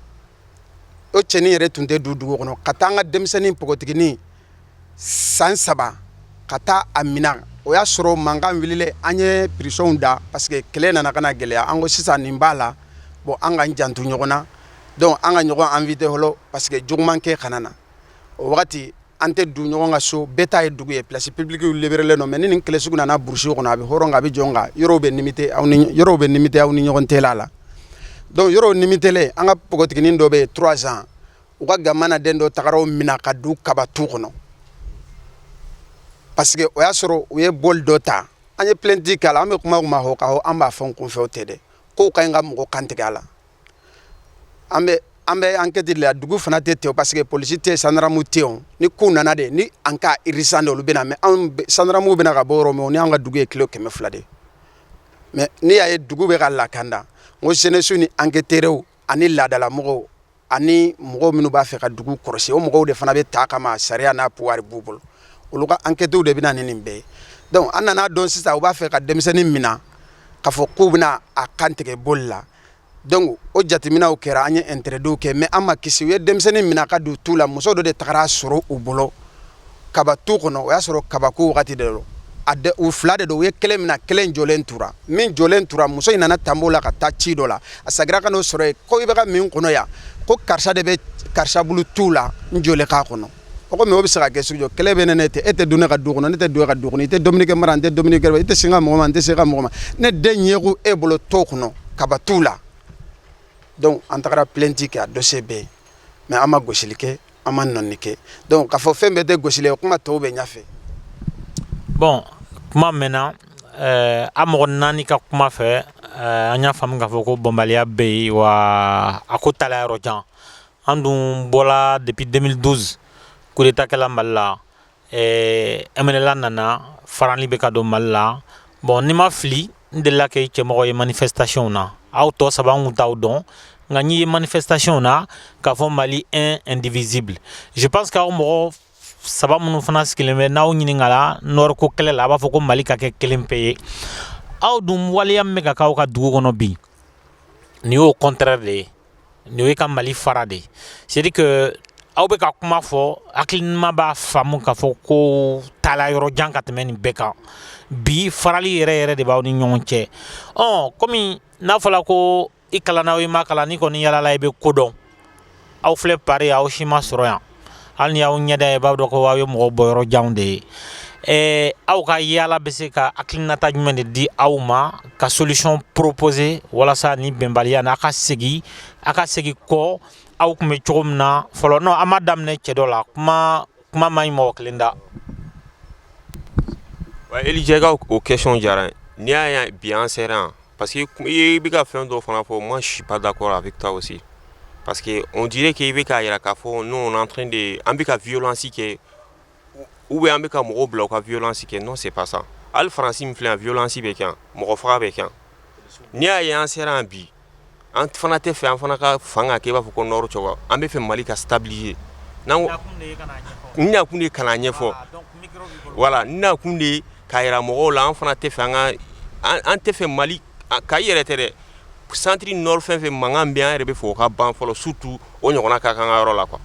o cɛnin yɛrɛ tun tɛ du dugu kɔnɔ ka taa an ka denmisɛnnin npogotiginin san saba ka taa a minɛ o y'a sɔrɔ mankan wulilen an ye pression da parce que kɛlɛ nana ka na gɛlɛya an ko sisan nin b'a la bon an ka jan ɲɔgɔn na donc an ka ɲɔgɔn éviter fɔlɔ parce que juguman kɛ kana na o wagati an tɛ du ɲɔgɔn ka so bɛɛ ta ye dugu ye place publique libérélen don mais ni nin kɛlɛ sugu nana burusi kɔnɔ a bɛ hɔrɔn a bɛ jɔn kan yɔrɔw bɛ yɔrɔw bɛ limité aw ni ɲɔgɔn tɛ la la donc yɔrɔ limitélen an ka npogotiginin dɔ bɛ yen trois ans u ka gamana den dɔ tagara o minɛ ka du kabatu kɔnɔ parce que o y'a sɔrɔ u ye boli dɔ ta an ye plainte k'a la an bɛ kuma ma hɔ ka hɔ an b'a fɔ n kun fɛ o tɛ dɛ k'u ka ɲi ka mɔgɔ kantigɛ a la an bɛ an bɛ enquête la dugu fana tɛ ten parce que polisi tɛ sandramu tɛ yen ni kow nana de ni an ka urgence de olu bɛna mais anw sandramuw bɛna ka bɔ yɔrɔ min o ni an ka dugu ye kilo kɛmɛ fila de ye mais n'i y'a ye dugu bɛ ka lakanda n ko jeunesse ni enquêteurs ani laadalamɔgɔw ani mɔgɔw minnu b'a fɛ ka dugu kɔlɔsi o mɔgɔw de fana bɛ ta kama sariya n'a pouvoir b'u bolo olu ka enquêtes de bɛna ni nin bɛɛ ye donc an nan'a dɔn sisan u b'a fɛ ka denmisɛnnin minɛ k'a fɔ k'u bɛna a kan tigɛ boli la donc o jateminɛw kɛra an ye interdits kɛ mais an ma kisi u ye denmisɛnnin minɛ ka don tu la muso dɔ de tagara a sɔrɔ u bolo kaba tu kɔnɔ o y'a sɔrɔ kabako wagati de don a de u fila de don u ye kelen minɛ kelen jɔlen tura min jɔlen tura muso in nana tanbo la ka taa ci dɔ la a sagira ka n'o sɔrɔ yen ko i bɛ ka mun kɔnɔ yan ko karisa de bɛ karisa bolo tu la n jɔlen k'a kɔnɔ o komi o bɛ se ka kɛ sugu jɔ kɛlɛ bɛ ne ne tɛ e tɛ don ne ka du kɔnɔ ne tɛ don e ka du kɔnɔ i tɛ dumuni kɛ n bara n tɛ dumuni kɛ i tɛ se n ka mɔgɔ ma n tɛ se i ka mɔgɔ ma ne den ɲɛko e bolo tu kɔnɔ kaba tu la donc an tagara plainte kɛ a dossier bɛ yen mais an ma gosili kɛ an ma nɔɔni kɛ donc k'a fɔ fɛn bɛɛ tɛ gosili ye kuma tɔw bɛ ɲɛfɛ bon kuma mɛnna eh, a mɔgɔ naani ka kuma fɛ eh, an y'a faamu k'a fɔ ko bɛnbaliya bɛ yen wa a ko taala yɔrɔ jan an dun bɔla depuis 2012 coup d'état kɛla mali la MNLA nana farali bɛ ka don mali la bon ni n ma fili n delila k'e cɛmɔgɔ ye manifestationw na aw tɔ saba n kun t'aw dɔn nka n'i ye manifestationw na k'a fɔ mali un indivisible je pense que aw mɔgɔ saba minnu fana sigilen bɛ n'aw ɲininkala Nord ko kɛlɛ la a b'a fɔ ko mali ka kɛ kelen pe ye aw dun waleya min bɛ ka k'aw ka dugu kɔnɔ bi nin y'o contraire de ye Nin ye ka mali fara de c'est à dire que aw bɛ ka kuma fɔ hakili ɲuman b'a faamu k'a fɔ ko taala yɔrɔ jan ka tɛmɛ nin bɛɛ kan bi farali yɛrɛ yɛrɛ de b'aw ni ɲɔgɔn cɛ ɔ kɔmi n'a fɔla ko i kalanna o i ma kalan n'i kɔni yalala i bɛ ko dɔn aw filɛ Paris aw si ma sɔrɔ yan hali n'i y'aw ɲɛda ye i b'a dɔn ko aw ye mɔgɔ bɔ yɔrɔ janw de ye ɛɛ aw ka yaala bɛ se ka hakilinata jumɛn de di aw ma ka solution proposer walasa nin bɛnbaliya nin a ka segin a ka segin kɔ aw kun bɛ cogo min na fɔlɔ non an ma daminɛ cɛ dɔ la kuma kuma man ɲi mɔgɔ kelen da. Wa Eli Jɛgɛ o question diyara n ye n'i y'a ye bi an sera yan Parce que i ye i bɛ ka fɛn dɔ fana fɔ moi je suis pas d'accord avec toi aussi parce que on dirait que i bɛ k'a yira k'a fɔ nous on est en train de an bɛ ka violence kɛ ou bien an bɛ ka mɔgɔw bila u ka violence kɛ non c'est pas ça hali France min filɛ yan violence bɛ kɛ yan mɔgɔ faga bɛ kɛ yan n'i y'a ye an sera yan bi an fana tɛ fɛ an fana ka fan ka kɛ i b'a fɔ ko Nord cogo an bɛ fɛ mali ka stabiliser an nakun de ye ka n'a ɲɛfɔ voilà an nakun de ye k'a yira mɔgɔw la an fana tɛ fɛ an an tɛ fɛ mali ka yɛrɛ tɛ dɛ centre ni Nord fan fɛ mankan bɛ an yɛrɛ bɛ fɛ o ka ban fɔlɔ surtout o ɲɔgɔnna kana k'an ka yɔrɔ la quoi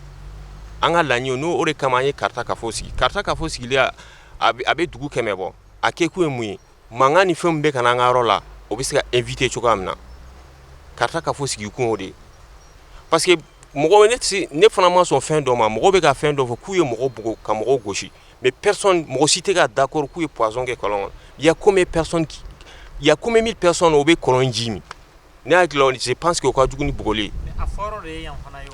an ka laɲini n'o de kama an ye Kaarta kafo sigi Kaarta kafo sigilen a bɛ dugu kɛmɛ bɔ a kɛkun ye mun ye Mankan ni fɛn min bɛ ka na an ka yɔrɔ la o bɛ se ka éviter cogoya min na Kaarta kafo sigi kun o de ye parce que mɔgɔ ne fana ma sɔn fɛn dɔ ma mɔgɔ bɛ ka fɛn dɔ fɔ k'u ye mɔgɔ bugɔ ka mɔgɔw gosi mais mɔgɔ si tɛ ka d'accord k'u ye poison kɛ kɔlɔn kɔnɔ y a combien de mille personnes o bɛ kɔlɔn ji min ne hakili la je pense que o ka jugu ni bugɔli ye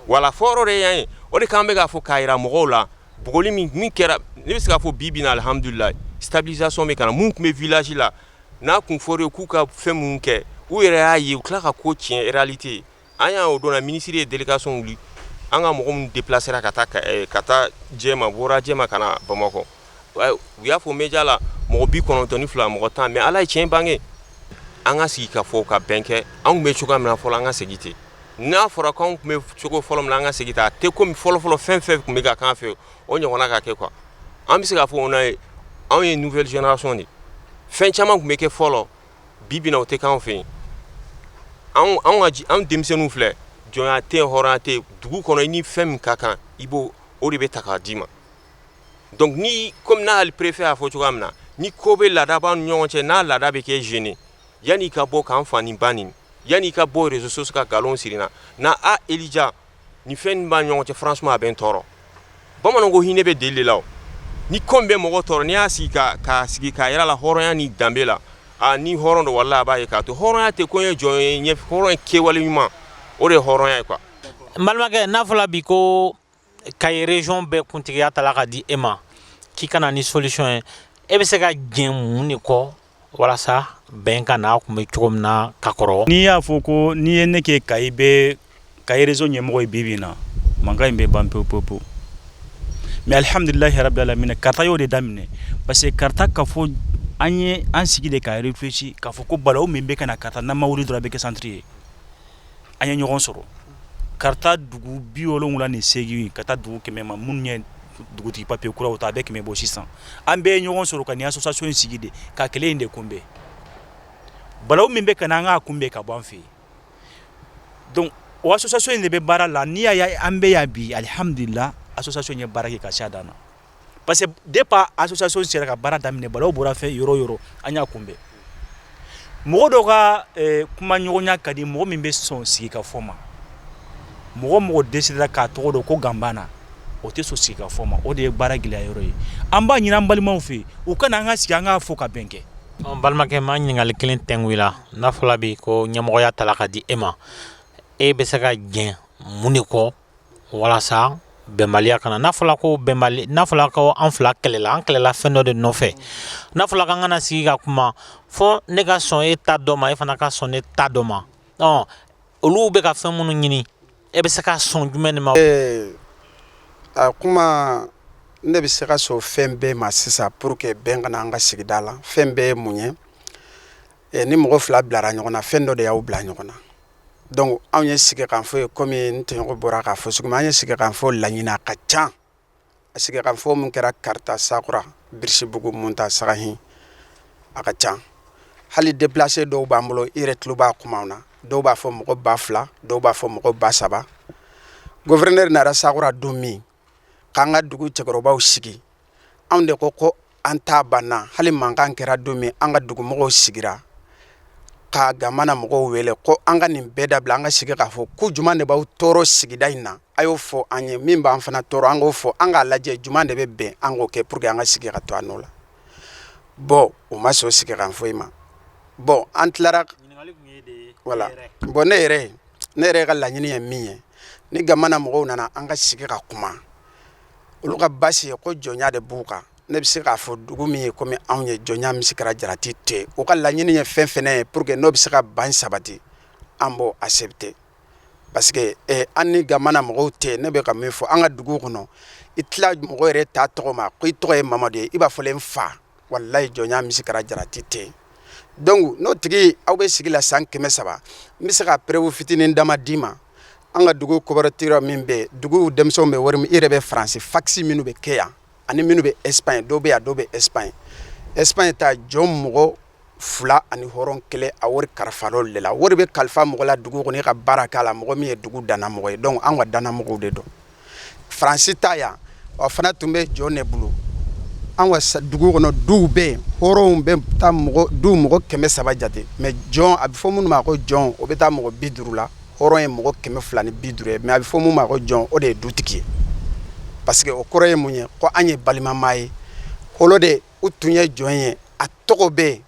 voilà fɔyɔrɔ de ye yan ye o de k'an bɛ k'a fɔ k'a jira mɔgɔw la bugɔli min min kɛra ne bɛ se k'a fɔ bi bi in na alihamudulila stabilisation bɛ ka na minnu tun bɛ village la n'a tun fɔra u ye k'u ka fɛn minnu kɛ u yɛrɛ y'a ye u tila ka ko tiɲɛ réalité an y'a o don na minisiri ye délégation wuli an ka mɔgɔ minnu déplacera ka taa eh, ka taa jɛma bɔra jɛma ka na bamakɔ u y'a fɔ media la mɔgɔ bi kɔnɔntɔn ni fila mɔgɔ tan mais ala ye tiɲɛ bange an ka sigi ka fɔ ka bɛn kɛ an tun bɛ cogoya min na fɔlɔ an ka segin ten n'a fɔra ko anw tun bɛ cogo fɔlɔ min na an ka segin ten a tɛ kɔmi fɔlɔfɔlɔ fɛn fɛn tun bɛ ka k'an fɛ o ɲɔgɔnna ka kɛ quoi an bɛ se k'a fɔ n' ye anw ye nouvelle génération de fɛn caman tun bɛ kɛ fɔlɔ bi bi in na o tɛ k'an fɛ yen anw denmisɛnninw filɛ jɔn tɛ hɔrɔn tɛ dugu kɔnɔ i ni fɛn min ka kan i b'o o de bɛ ta k'a d'i ma donc ni kɔmi n'a hali préfet y'a fɔ cogoya min na ni ko bɛ laada b'an ni ɲɔgɔn cɛ n'a laada bɛ kɛ gêné Yanni ka bɔ k'an fa ni ba neni yanni ka bɔ réseaux sociaux ka nkalon siri n na na a Elija nin fɛn nin b'an ni ɲɔgɔn cɛ franchement a bɛ n tɔɔrɔ bamananw ko hinɛ bɛ deli de la o ni ko min bɛ mɔgɔ tɔɔrɔ n'i y'a sigi ka k'a sigi k'a yir'a la hɔrɔnya ni danbe la a ni hɔrɔn don walahi a b'a ye k'a to hɔrɔnya tɛ ko ye jɔn ye n ye hɔrɔn ye kɛwale ɲuman o de ye hɔrɔnya ye quoi n balimakɛ n'a fɔla bi ko Kayi région bɛɛ kuntigiya tala ka di e ma k'i ka na ni solution ye e bɛ se ka jɛn mun de kɔ walasa bɛn ka n'a tun bɛ cogo min na ka kɔrɔ n'i y'a fɔ ko n'i ye ne kɛ Kayi bɛɛ Kayi région ɲɛmɔgɔ ye bi bi in na mankan in bɛ ban pewu pewu pewu mais alihamdulilahi rabil alamina karata y'o de daminɛ parce que karata kafo an ye an sigi de ka réfléchir k'a fɔ ko balawu min bɛ ka na karata n'an ma wuli dɔrɔn a bɛ kɛ santiri ye an ye ɲɔgɔn sɔrɔ karata dugu bi wolowula ni seegin ka taa dugu kɛmɛ ma minnu ye dugutigi papiye kuraw ta a bɛ kɛmɛ bɔ sisan an bɛɛ ye ɲɔgɔn sɔrɔ ka nin association in sigi de ka kɛlɛ in de kunbɛn balawu min bɛ ka na an k'a kunbɛn ka bɔ an fɛ yen donc o association in de bɛ baara la n'i y'a ye an bɛ yan bi alihamdulila association ye baara kɛ ka se a dan na parce que départ association sera ka baara daminɛ balawu bɔra fɛ yɔrɔ o yɔrɔ an y'a kunbɛn mɔgɔ dɔw ka kumaɲɔgɔnya ka di mɔgɔ min bɛ sɔn sigi ka fɔ ma mɔgɔ mɔgɔ décidera k'a tɔgɔ don ko Ganbana o tɛ sɔn sigi ka fɔ ma o de ye baara gɛlɛya yɔrɔ ye an b'a ɲini an balimaw fɛ u ka na an ka sigi an k'a fɔ ka bɛn kɛ balimakɛ ma ɲininkali kelen tɛngu i la n'a fɔra bi ko ɲɛmɔgɔya tala ka di e ma e bɛ se ka jɛn mun de kɔ walasa bɛnbaliya kana n'a fɔra ko bɛnbali n'a fɔra ko an fila kɛlɛla an kɛlɛla fɛn dɔ de nɔfɛ n'a fɔra k'an ka na sigi ka kuma fo ne ka sɔn e ta dɔ ma e fana ka sɔn ne ta dɔ ma ɔ olu bɛ ka fɛn minnu ɲini e bɛ se ka sɔn jumɛn de ma ee, a kuma ne bɛ se ka sɔn fɛn bɛɛ ma sisan pour que bɛn ka na an ka sigida la fɛn bɛɛ ye mun ye eh, ni mɔgɔ fila bilara ɲɔgɔn na fɛn dɔ de y'aw bila ɲɔgɔn na donc anw ye sigikanfɔ ye komi n tɔɲɔgɔn bɔra k'a fɔ cogo min an ye sigikanfɔ laɲini a ka ca a sigikanfɔ min kɛra kaarta sakura birisibugu munta sagahin a ka ca hali déplacé dɔw b'an bolo i yɛrɛ tulo b'a kumaw na dɔw b'a fɔ mɔgɔ ba fila dɔw b'a fɔ mɔgɔ ba saba gouverneur nara sakura don min k'an ka dugu cɛkɔrɔbaw sigi anw de ko ko an ta banna hali mankan kɛra don min an ka dugumɔgɔw sigira ka gamana mɔgɔw wele ko an ka nin bɛɛ dabila an ka sigi k'a fɔ ko juman de b'aw tɔɔrɔ sigida in na a y'o fɔ an ye min b'an fana tɔɔrɔ an k'o fɔ an k'a lajɛ juman de bɛ bɛn an k'o kɛ pour que an ka sigi ka to an nɔ la bon u ma sɔn sigikanfɔ in ma bon an tilara voilà bon ne yɛrɛ ne yɛrɛ ka laɲini ye min ye ni gamana mɔgɔw nana an ka sigi ka kuma olu ka baasi ye ko jɔnya de b'u kan ne bɛ se k'a fɔ dugu min ye komi anw ye jɔnya misi kɛra jarati tɛ u ka laɲini ye fɛn fɛn ye pour que n'o bɛ se ka ban sabati an b'o accepter parce que eh, an ni gamana mɔgɔw tɛ ne bɛ ka min fɔ an ka dugu kɔnɔ i tila mɔgɔ yɛrɛ taa tɔgɔ ma ko i tɔgɔ ye mamadu ye i b'a fɔ n fa walayi jɔnya misi kɛra jarati tɛ donc n'o tigi aw bɛ sigi la san kɛmɛ saba n bɛ se ka preuve fitinin dama d'i ma an ka dugu coopérative min bɛ dugu denmisɛnw bɛ wari min i yɛrɛ bɛ faransi fasi minnu bɛ kɛ yan ani minnu bɛ Espagne dɔw bɛ yan dɔw bɛ Espagne Espagne ta jɔn mɔgɔ fila ani hɔrɔn kelen a wari kalifara olu de la wari bɛ kalifa mɔgɔ la dugu kɔnɔ i ka baara k'a la mɔgɔ min ye dugu dannamɔgɔ ye donc an ka dannamɔgɔw de don faransi ta yan o fana tun bɛ jɔn de bolo an ka dugu kɔnɔ duw bɛ yen hɔrɔnw bɛ taa mɔgɔ du mɔgɔ kɛmɛ saba jate mais jɔn a bɛ fɔ minnu ma ko jɔn o bɛ taa mɔgɔ bi duuru la hɔrɔn ye mɔgɔ kɛmɛ fila ni bi duuru ye mais a bɛ fɔ minnu ma ko jɔn o de ye dutigi ye parce que o kɔrɔ ye mun ye ko an ye balimamaa ye holo de u tun ye jɔn ye a tɔgɔ bɛ yen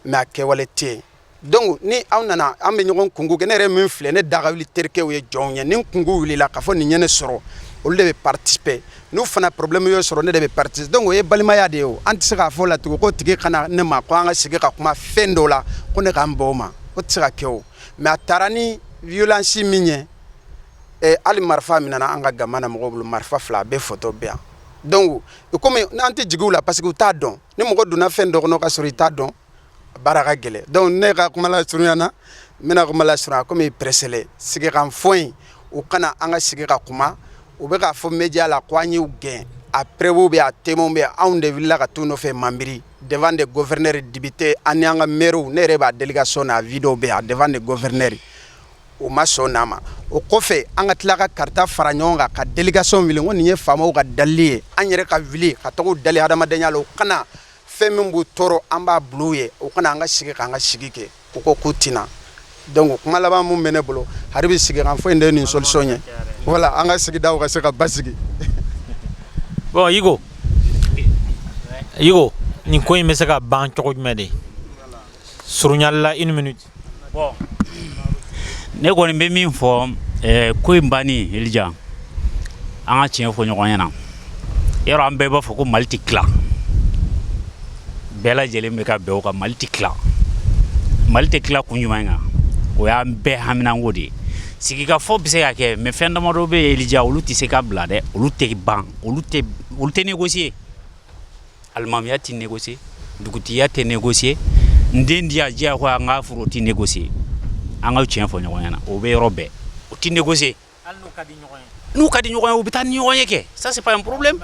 mais a kɛwale tɛ yen donc ni aw nana an bɛ ɲɔgɔn kunko kɛ ne yɛrɛ min filɛ ne daga wuli terikɛw ye jɔn ye ni kunko wulila k'a fɔ nin ye ne sɔrɔ olu de bɛ participer n'u fana problème y'u sɔrɔ ne de bɛ participer donc o ye balimaya de ye an tɛ se k'a fɔ la tugun ko tigi ka na ne ma ko an ka sigi ka kuma fɛn dɔw la ko ne ka n ban o ma o tɛ se ka kɛ mais a taara ni violence min ye hali marifa minɛna an ka gamana mɔgɔw bolo marifa fila a bɛɛ photo bɛ yan donc komi an tɛ jigi u la parce que u t'a dɔn ni mɔgɔ donna fɛn dɔ kɔnɔ ka sɔrɔ i t'a dɔn baara ka gɛlɛn donc ne ka kuma lasurunya na n bɛna kuma lasurunya komi pɛrɛsɛlɛ sigikanfɔ in u ka na an ka sigi ka kuma u bɛ k'a fɔ média la ko an y'u gɛn a preuve bɛ yen a témoin bɛ yen anw de wulila ka t'u nɔfɛ Manbiri devant des gouverneurs, députés ani an ka maires ne yɛrɛ b'a délégation na a vidéo bɛ yen devant des gouverneurs o ma sɔn n'a ma o kɔfɛ an ka tila ka Kaarta fara ɲɔgɔn kan ka délégation wuli ko nin ye faamaw ka dalili ye an yɛrɛ ka wuli ka taga u dali hadamadenya la u ka na fɛn min b'u tɔɔrɔ an b'a bila u ye u ka na an ka sigi k'an ka sigi kɛ u ko k'u tɛ na donc kuma laban min bɛ ne bolo hali bi sigikafɔ in de nin solution ye wala an ka sigidaw ka se ka basigi bon Yigo Yigo nin ko in bɛ se ka ban cogo jumɛn de surunya la une minute Bon ne kɔni bɛ min fɔ ko in banni Elija an ka tiɲɛ fɔ ɲɔgɔn ɲɛna yɔrɔ an bɛɛ b'a fɔ ko Mali tɛ tila bɛɛ lajɛlen bɛ ka bɛn o kan Mali tɛ tila Mali tɛ tila kun jumɛn kan o y'an bɛɛ haminako de ye sigikafɔ bɛ se ka kɛ mais fɛn damadɔ bɛ yen Elija olu tɛ se ka bila dɛ olu tɛ ban olu tɛ négocier Alimamiya tɛ négocier dugutigiya tɛ négocier n den diya diyagoya an ka furu o tɛ négocier an ka tiɲɛ fɔ ɲɔgɔn ɲɛna o bɛ yɔrɔ bɛɛ o tɛ négocier n'u ka di ɲɔgɔn ye u bɛ taa ni ɲɔgɔn ye kɛ ça c'est pas un problème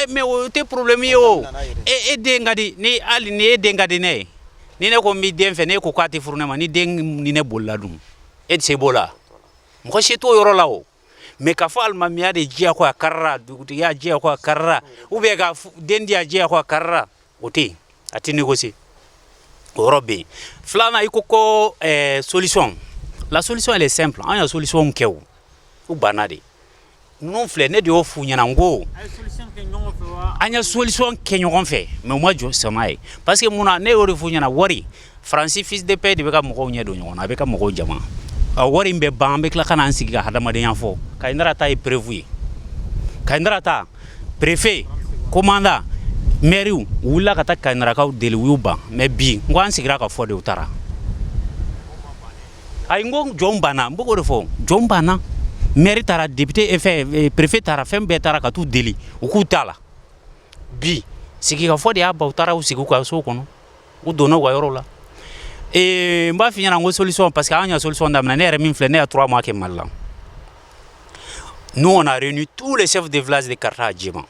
mais o tɛ problème ye o e e den ka di ni hali ni e den ka di ne ye ni ne ko n b'i den fɛ ne ko k'a tɛ furu ne ma ni den ni ne bolila dun e tɛ se b'o la mɔgɔ si t'o yɔrɔ la o mais k'a fɔ alimamiya de diyagoya karira dugutigiya diyagoya karira ou bien ka den diya diyagoya karira o tɛ yen a tɛ négocier o yɔrɔ bɛ yen filanan i ko ko eh, solution la solution elle est simple an ye solution kɛ o u banna de ninnu filɛ ne de y'o f'u ɲɛna n ko an ye solution kɛ ɲɔgɔn fɛ mais u ma sɔn a ma parce que mun na ne y'o de f'u ɲɛna wari Faransi fisidip de bɛ ka mɔgɔw ɲɛ don ɲɔgɔn na a bɛ ka mɔgɔw jama a wari in bɛ ban an bɛ tila ka n'an sigi ka hadamadenya fɔ Kayinɛra ta ye preuve ye Kayinɛra ta préfet commandant maire u wulila ka taa Kayinɛrakaw deli u y'u ban mais bi ko an sigira ka fɔ de u taara ayi n ko jɔn banna n b'o de fɔ jɔn banna maire taara député préfet taara fɛn bɛɛ taara ka taa u deli u k'u t'a la bi sigikafɔ de y'a ban u taara u sigi u ka so kɔnɔ u donna u ka yɔrɔ la n b'a f'i ɲɛna ko solution parce que an y'a solution daminɛ ne yɛrɛ min filɛ ne y'a trois mois kɛ Mali la nous on a réuni tous les chefs de village de Kaarta à Diéma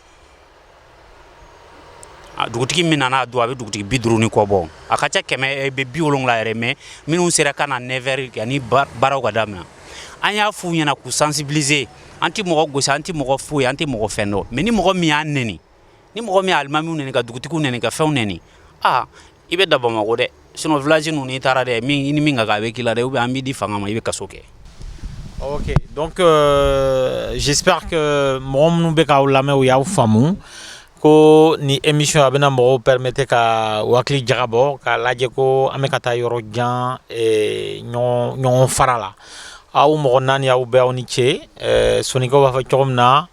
dugutigi min nana a don a bɛ dugutigi bi duuru ni kɔ bɔ a ka ca kɛmɛ ni bi wolonwula yɛrɛ mais minnu sera ka na 9 heures yanni baaraw ka daminɛ an y'a f'u ɲɛna k'u sensibiliser an tɛ mɔgɔ gosi an tɛ mɔgɔ foyi an tɛ mɔgɔ fɛn dɔn mais ni mɔgɔ min y'a nɛni ni mɔgɔ min alimami nɛni ka dugutigi nɛni ka fɛnw nɛni aa i bɛ da bamakɔ dɛ sinon village ninnu n'i taara dɛ ni min ka kan a bɛ k'i la dɛ ou bien an b'i di fanga ma i bɛ kaso kɛ ok donc j'espère que mɔgɔ minnu bɛ k'aw lamɛn u y'aw faamu ko ni émission a bɛna mɔgɔw permettre ka u hakili jagabɔ k'a lajɛ ko an bɛ ka taa yɔrɔ jan ɲɔgɔn fara la aw mɔgɔ naani aw bɛɛ aw ni ce soninko b'a fɔ cogo min na